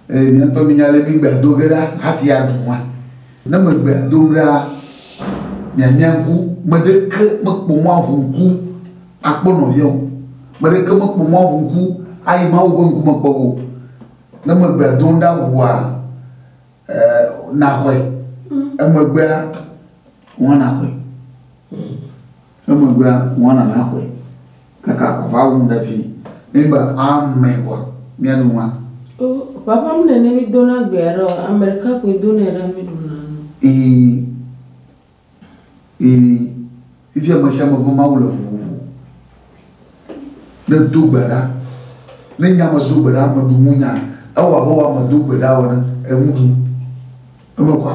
Míaŋutɔ míenya ale mi gbea do ge ɖa hafi aɖu nua. Ne megbea dom ɖa, mianya ŋku. Me ɖeke mekpɔ mɔ aʋu ŋku akpɔ nɔvia o. Me ɖeke mekpɔ mɔ aʋu ŋku ayi Mawu ƒe ŋkume kpɔ o. Ne megbea dom ɖa ʋua, naxɔe. Emegbea, ŋua naxɔe. Emegbea ŋwana la xɔe kaka ʋaʋã ŋu ɖe vi eye be ame wa mía ɖu ŋua. O, ʋaʋã mne ne mi do na gbea ɖe o, ame ɖeka koe do nɛ ɖe mi ɖu na nu. Ii, ii, fifia ame sia ame ƒe Mawu le vovovo. Ne do gbe ɖa, ne nya me do gbe ɖa, ame ɖu ŋu nya, ewɔ abe wɔ ame do gbe ɖa ene, eŋu ɖu. Eme kɔa?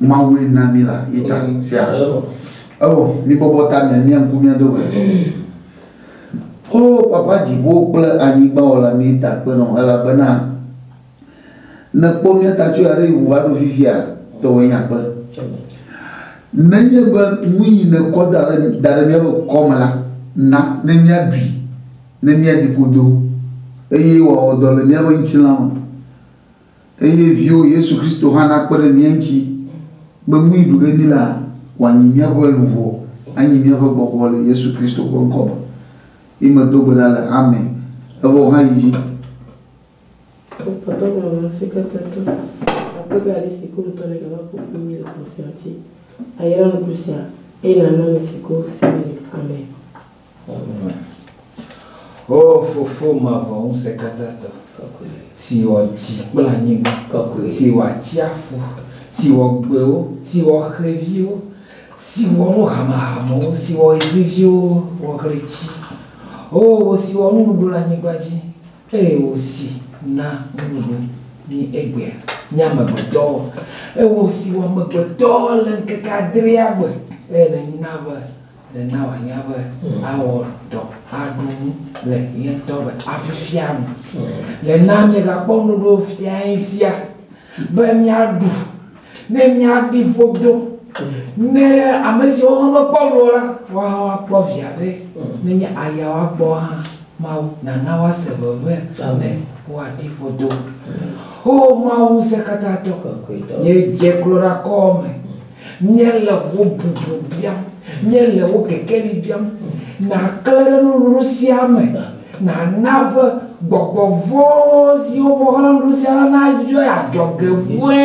Mawue na mí la ye ta sia. Ewɔ mí bɔbɔ ta mía mía ŋku mía do gbe. O Papa dziƒo kple anyigba wɔla mí ta kpe nɔ elabena nèkpɔ mía ta tso aɖe ŋu va ɖo fifia tɔwɔe nye akpe. Nenye be nu yi nèkɔ da ɖe da ɖe míaƒe kɔ me la, na ne míaɖui ne míaɖi ƒodo eye wòawɔ dɔ le míaƒe ŋutilã me. eye Viwò Yesu Kristo hã nakpe ɖe mía ŋuti be nu yi ɖu ge mí laa, wòanyi míaƒe luʋɔ, anyi míaƒe gbɔgbɔ le Yesu Kristo ƒe ŋkɔ me. Ye medo gbe ɖa le. Amen. Evɔ wòhã yi dzi. Wokpɔtɔ gblɔ be seketetɔ akpe be ale si Kpɔnutɔ nègava ƒo ƒu kpli mí le xɔse ŋuti, ayra nuku sia, eye nàna ame si go se mele. Amen. O Fofo mavɔ Ŋusẽkatãtɔ, si wɔ dzi kple anyigba, si wɔ atsiaƒu, si wɔ gbewo, si wɔ xeviwo, si wɔ nu hamehamewo, si wɔ ɣeviviwo, wɔ ɣleti, O wò si wɔ nuɖuɖu le anyigba dzi, eye wò si na nuɖuɖu mí egbea, mí amegbetɔwo, eye wò si wɔ amegbetɔ le ŋkeke adrelia gbe, eye nèna be Nena wòanya be awɔ dɔ aɖu nu le ye ŋutɔ be afifia nu. Le na míegakpɔ nuɖoɖo fiae sia be míaɖu ne míaɖi ƒo do. Ne ame siwo hã mekpɔ nu o la, woawo hã woakpɔ via be nenye aya woakpɔ hã, Mawu nana woase veve be woaɖi ƒo do. Oo Mawu ŋusẽkatãtɔ, nye dze klo ɖe akɔwò me. Míele wò bublu biam. Míele wò kekeli biam. Nàklẽ ɖe nuɖuɖu sia me. Nàna be gbɔgbɔ vɔ̃ siwo ƒe woxlẽ nuɖuɖu sia la nadzɔe adzɔge vɔ̃e.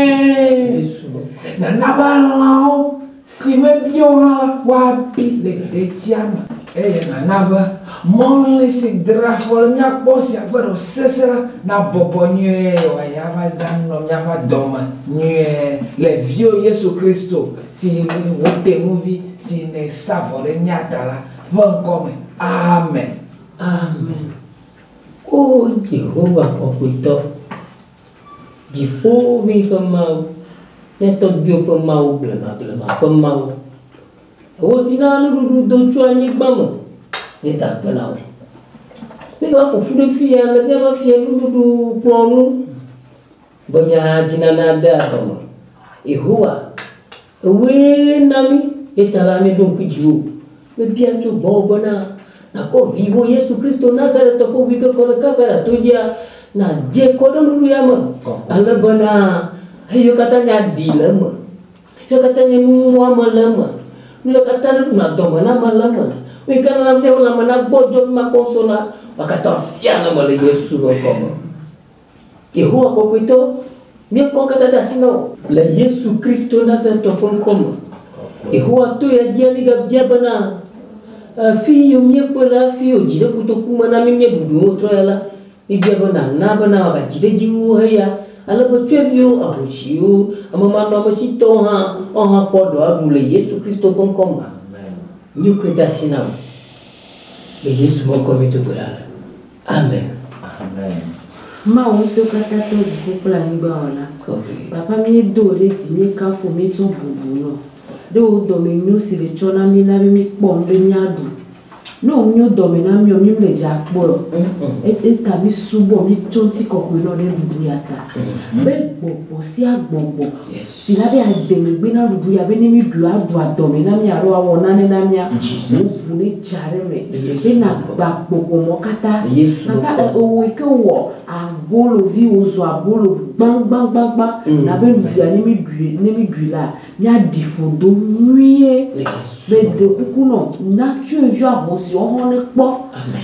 Nàna be lãwo, si mebiwo hã la, woabi le detsia me. Eye nàna be mɔlĩ si dra afɔ le mía kpɔ sia ƒe ɖɔ sesẽ la nabɔbɔ nyuie wòayi ava ɖanɔ míaƒe dɔ me nyuie le Viwò Yesu Kristo, si nye wò tenuvi, si nèsa vɔ ɖe mía ta la, ƒe ŋkɔ me. Amen. Amen. O Yehowa kɔkɔetɔ, dziƒoʋĩ ƒe Mawu, mía tɔgbuiwo ƒe Mawu, blemablema ƒe Mawu, Wò si naa nuɖuɖu do tso anyigba me nye ta kpena o. Míva ƒo ƒu ɖe fiya le míaƒe Fiẽnuɖuɖukplɔ̃ ŋu be míaha tsi nane ade adɔ me. Yehowa, ewɔe na mí, eya ta la, míeɖo ŋku dziwò. Mebia tso gbɔwò bena nàkɔ Viwò Yesu Kristo Nazaretɔ ƒe ʋui ke kɔ ɖe Kalvara to dzia nadze kɔ ɖe nuɖuɖu ya me ale bena xeviwo katã nya ɖi le eme. Eya katã nye nu ŋu mɔ ame le eme. Nu ya katã ɖe ɖuna dɔme na ame le eme. Nu yi ke nana míaƒe lãme nagbɔdzɔ be makpɔ ŋusẽ la, eya katã fia ne mele Yesu ƒe ŋkɔ me. Yehowa kɔkɔetɔ, nye ŋkɔ katã de asi na wò. Le Yesu Kristo Nazaretɔ ƒe ŋkɔ me, Yehowa to ya dzia mígabia bena, Afi yiwo míekpɔe le hafi wòdzi ɖe kotoku me na mí míeɖuɖu nuwo trɔ ya la, Mibia be nana be nawɔagatsi ɖe edzi wu heya, ale be tsyɔ̃eviwo, ahosiwo, amemanɔametsitɔwo hã woawo hã kpɔ ɖewo aɖu le Yesu Kristo ƒe ŋkɔ me. Amen. Nye koe de asi nam le Yesu ƒe ŋkɔ mí do gbe ɖa le. Amen. Amen. Mawu Ŋusẽkatãtɔ, dziƒo kple anyigba Wɔla, Papa, míedo wò ɖe dzi, míekafu wò, míetsɔ bubu nɔ. Ɖo wò dɔme nyo si le tsɔ na mí na be mí kpɔ nu be mía ɖu. Ne wò nyo dɔme na míɔ, mí mle dze akpɔe o. Eyata mí subɔ, mí tsɔ ŋuti kɔkɔe nɔ ɖe nuɖuɖu ya ta. Be gbɔgbɔ sia gbɔgbɔ si na be ade megbe na nuɖuɖu ya be ne mí ɖui a ɖua dɔme na mí alo a wɔ nane na mía, wò ʋu ne dza ɖe eme be na gba gbɔgbɔ mɔ kata. Gaba e o wòe ke wɔ abolo viwo zɔ abolo gbã gbã gbã gbã na be nuɖuɖu ya ne mí ɖui, ne mí ɖui la, Míaɖi ƒo do nyuie be ɖekuku nɔ na tsyɔ̃evi ahosi woaxɔ ne kpɔ.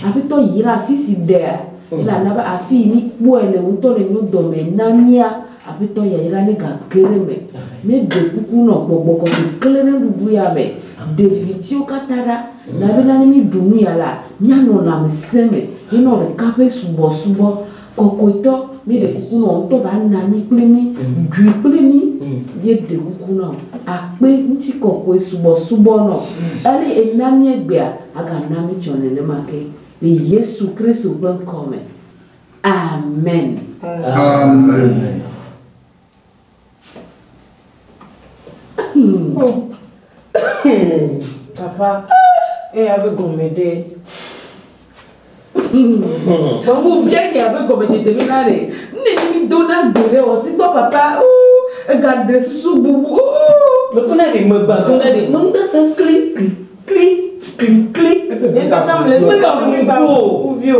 Aƒetɔ yra asi si ɖea, eye nàna be afi yi míkpɔe le ŋutɔ le nyo dɔme na mía. Aƒetɔ yayra negake ɖe eme. Míeɖe kuku nɔ gbɔgbɔ kɔkɔe klẽ ɖe nuɖuɖu ya me. Ɖe vivitiwo katã ɖa. Na bena ne míɖu nu ya la, míanɔ lãmesẽ me henɔ ɖeka ƒe subɔsubɔ. Kɔkɔetɔ, míeɖe kuku nɔ ŋutɔ va na mí kple mí, ɖui kple mí, míeɖe kuku nɔ akpe ŋutikɔkɔe subɔsubɔ nɔ eye ena míegbea, agana mí tsɔ nenema ke le Yesu Kristo ƒe ŋkɔ me. Amen. Amen. Papa, eya be gɔme ɖe. Mamu bia nya be gɔme dzedze mi na ɖe. Ne mi do na gbe ɖe o si gbɔ papa. Ega ɖe susu bubu. Me kuna ɖe me gba do na ɖe. Me nu se kli kli kli kli kli. Eka tsa mle se ka mi ba. Uvio.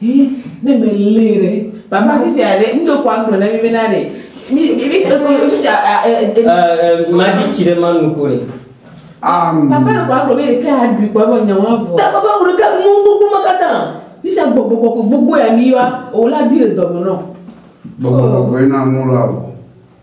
Hii ne me lee ɖe. Papa mi fia ɖe mi ɖo kwan gblɔ na mi be na ɖe. Mi mi mi eko yo mi fia a e e. Ɛɛ ma dzi tsi ɖe ma nu ko ɖe. Am. Papa ɖo kwan gblɔ be ɖeke a ɖui kɔ vɔ nyawo avɔ. Ta papa wo ɖeka nu gbogbo ma kata. Mi fia gbogbo kɔkɔ gbogbo ya mi yoa o la bi le dɔme nɔ. Gbogbo kɔkɔ yi na nu la o.